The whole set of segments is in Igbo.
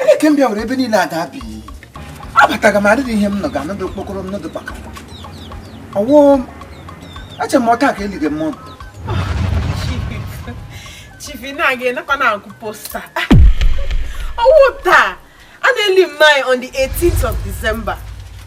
Onye ka m bịa were ebe niile ada bi abataga m adịghị ihe m nọ ga anọdụ okpokoro m nọdụ baka ọ wụ eche m ọ taa ka elige m ọdụ chief na gị nakwa na-akụ poster ọ wụ taa a na-eli nwanyị on the 18th of December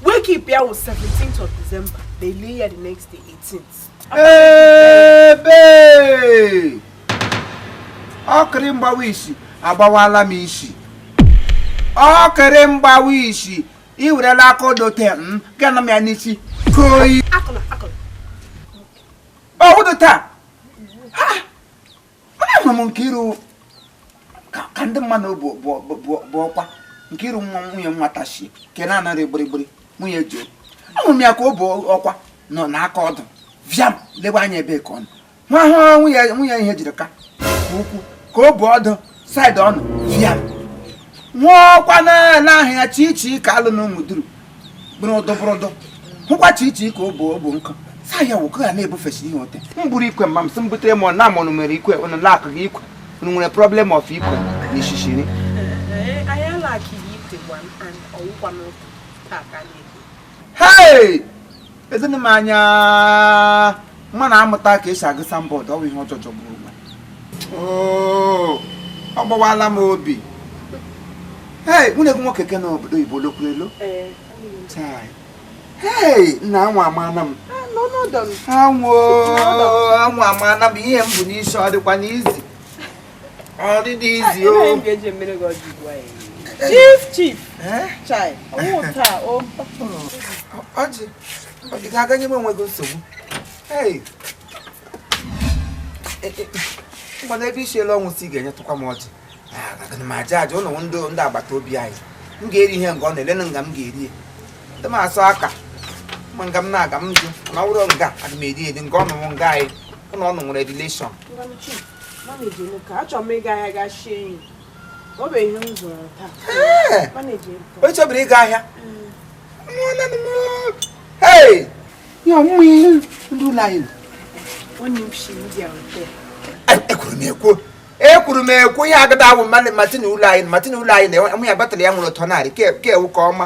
wake keep ya wụ 17th of December e lie ya the next day 18th ebe ọkịrị mgbawa isi agbawala m isi ọkịrị mgbawa isi ị werela aka odote m mm, gana m ya n'isi koyi ọ wụdụ taa ama m Nkiru ka ndị mmadụ bụ ọkwa Nkiru nwa nwunye nwata si ke na-anara gbirigbiri nwunye ji ahụrụ m ya ka ọ bụ ọkwa nọ n'aka ọdụ bịa lebe anya ebe ka ọ nọ nwa ahụ nwunye nwunye ihe jiri ka ukwu ka ọ bụ ọdụ side ọnụ bịa nwa ọkwa na-ahịa Chichi ka a lụ na Ụmụduru bụrụ ọdọbụrọdọ hụkwa Chichi ka ọ bụ obo nkụ saa ya wụkọ ya na-ebufesi ihe ote m buru ikwe ma m sị m butere m na amụnụ nwere ikwe ụnụ na-akụ gị ikwe ụnụ nwere problem of ikwe na ishishiri hei ezinụ m anya mma na amụta ka e si agụ signboard ọ bụ ihe ọjọọ jọgburu onwe Oo, ọ gbawala m obi hei nwanne gị nwoke ke nọ obodo oyibo lokwu elu Chai. hei nna anwụ amaana m anwụ anwụ amaana m ihe m bu n'isi ọ dịkwanụ easy ọ dịdị easy o chief chief chai ọ wụ taa o ọjị ọ dị ga-aga nye m onwe gị nsogbu mgbe n'ebe isi elu ọ wụ sị ị ga-enyetụkwa m ọjị m aja aja ụlọ ndị ndị agbata obi anyị m ga-eri ihe nga ọ na-ele na nga m ga-eri ya ndị m asụ aka ma nga m na-aga m jụ na wụrụ nga aga m eri eri nga ụnụ wụ nga anyị ụlọ ụnụ nwere relation echebiri ịga ahịa ekwuru m ekwu ekwuru m ekwu ihe agada awụ mmadụ Martin ụlọ anyị Martin ụlọ anyị na nwunye ya batara ya nwere ụtọ narị ka ewu ka ọma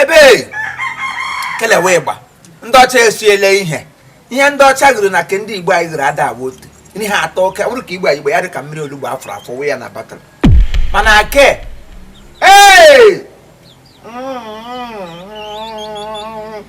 ebe kelewe ịgba ndị ọcha esiele ihe ihe ndị ọcha gụrụ na ke ndị igbo anyị gụrụ ada awụ otu ihe atọ oke bụrụ ka igbo anyị igbo ya dị ka mmiri olugbu a fọrọ afọ wee ya na bottle mana ke ee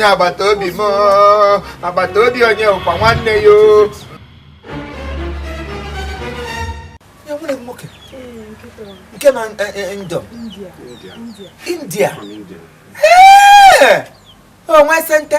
onye agbata obi m agbata obi onye ụkwa nwanne ya e nwere nwoke nke na eh, eh, eh, ndọ india onwe sente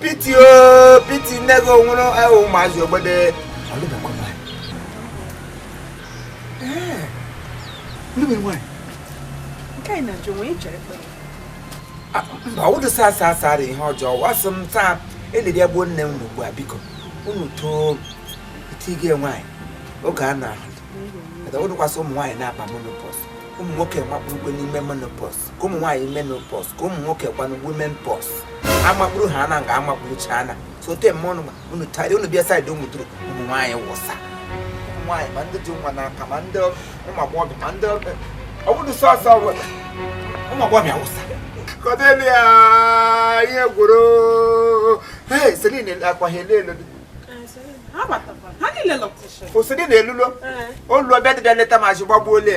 pity o pity nne gị onwere ahụ ụmụazị ogbede mba ụdị saa saa saa dị ihe ọjọọ wasị m taa eliri egbuo nne m ugbu a biko unu too itige nwaanyị oge a na ọ wụdịkwa sọ ụmụ nwaanyị na-aba menopause ụmụ nwoke makpurukwe n'ime menopause ka ụmụ nwaanyị menopause ka ụmụ nwoke kwanụ women pause amakpuru ha na nga amakpuru chana sote m ọnụ unu tari unu bịa side ụmụ duru ụmụ nwaanyị wụsa ụmụ nwaanyị ma ndị ji nwa n'aka ma ndị ụmụ agbọghọbịa ma ndị ọ bụrụ sọsọ ụmụ agbọghọbịa wụsa Cordelia ihe gworo ee Celine akwaghị elu elu osiri na elulo olu ọbịa dịbịa leta ma ji gbagbuo ole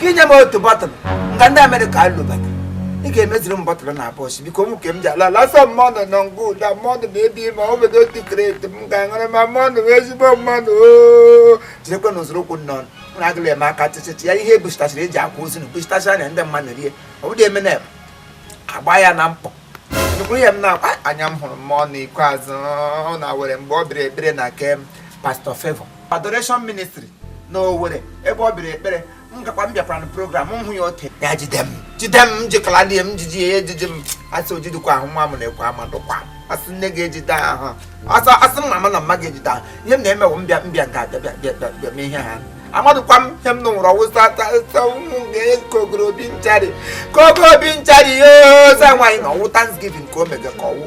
ka inye m otu bottle nga ndị America alụbata ị ga-emeziri m bottle na bọs biko ụmụ nke m ji ala lasa mmanụ nọ ngụ ụda mmanụ ma ebi ma ọ bụdị otu crate m ga-aṅụrị ma mmanụ wụ ezigbo mmanụ oo jirekwe na ụzụrụ ụkwụ nnọọ na agụla eme aka tịtịtị ya ihe ebusitachara eji akwa ozu na ebusitacha ya ndị mmadụ rie ọ bụdị eme na agba ya na mkpọ nkwuru ihe m na-akwa anya m hụrụ mmanụ ikpeazụ na Owerri mgbe ọ bịara ekpere na nke Pastor Favour Adoration Ministry na Owerri ebe ọ bịara ekpere m gakwa m bịakwara na program m hụ ya ote ya jide m jide m jikọla dị m jiji ya ejiji m asị o jidikwa ahụ nwa m na-ekwe amadụkwa asị nne ga-ejide ahụ asị asị m mama na mma ga-ejide ahụ ihe m na-emewo mbịa mbịa nke abịa bịa bịa bịa mee ihe ha amadụkwa m ihe m nụrụ ọwụsa ụmụ ka ogoro obi nchari ka ogo obi nchari ihe oza nwaanyị na ọ wụ Thanksgiving ka o mega ka ọ wụ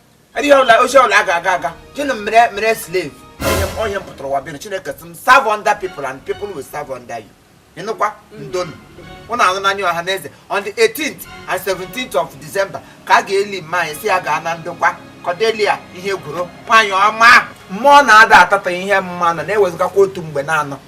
ihe ọla ozi ọla aga aga aga gịnị mere mere slave onye m onye m pụtara ụwa bịa chineke sị m serve under people and people will serve under you ị nụkwa ndonu unu anụna ya ọha na eze on the 18th and 17th of December ka a ga-eli mma anyị si ya gaa na ndokwa Cordelia ihe gworo nwaanyị ọma mmụọ na-ada atata ihe mmanụ na-ewezụgakwa otu mgbe na-anọ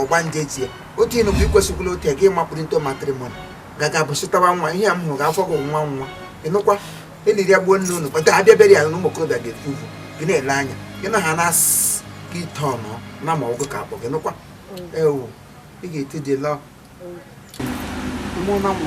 ọgbanje tie otu ịnụ bụ ikwesịkwula otu gị makpuru into matrimony gaga bụsịtawa nwa ihe a m hụrụ afọ gị nwa nwa ị nụkwa eliri ya gbuo nne unu kpata abịa bere ya na ụmụ okorobịa ga-efu uvu gị na-ele anya gị na ha na-asị gị ite ọnụ na ma ọgụ ka akpọ gị nụkwa ewu ị ga-eti dị lọ mụ na mụ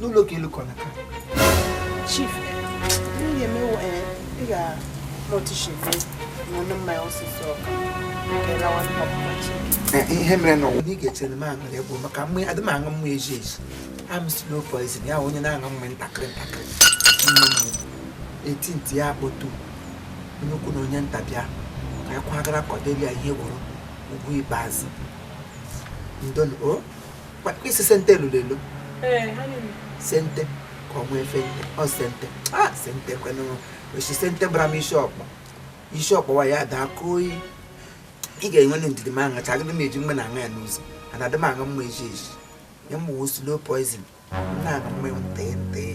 n'ụlọ ka elu kọna ka chief ndị emewo eh, ị ga-noticebe n'ọnụ mmanya ọsịsọ ọka nke lawa ọpụpa chi eh, ihe mere na ọwụ na ị ga-echere m aṅụrị egwu maka mgbe adị m aṅụ mmụ eji eji am slow poison ya onye na-aṅụ mmụ ntakịrị ntakịrị eti ntị ya akpọtu onye ukwu na onye nta bịa ka ya kwagara Cordelia ihe gwụrụ ugwu ikpeazụ ndon o oh. isi sente lụrụ elu sente ka ọ nwee fente ọ sente a ah, sente kwenụ ọ sị sente gbara m isi ọkpọ isi ọkpọwa ya daa ka oyi ị ga-enwe ndidi m aṅụcha agịdị m eji mgbe m na-aṅụ ya n'ụzọ ana adị m aṅụ mmanya eji eji ya mgbe wo slow poison na-aṅụ mmanya ntee ntee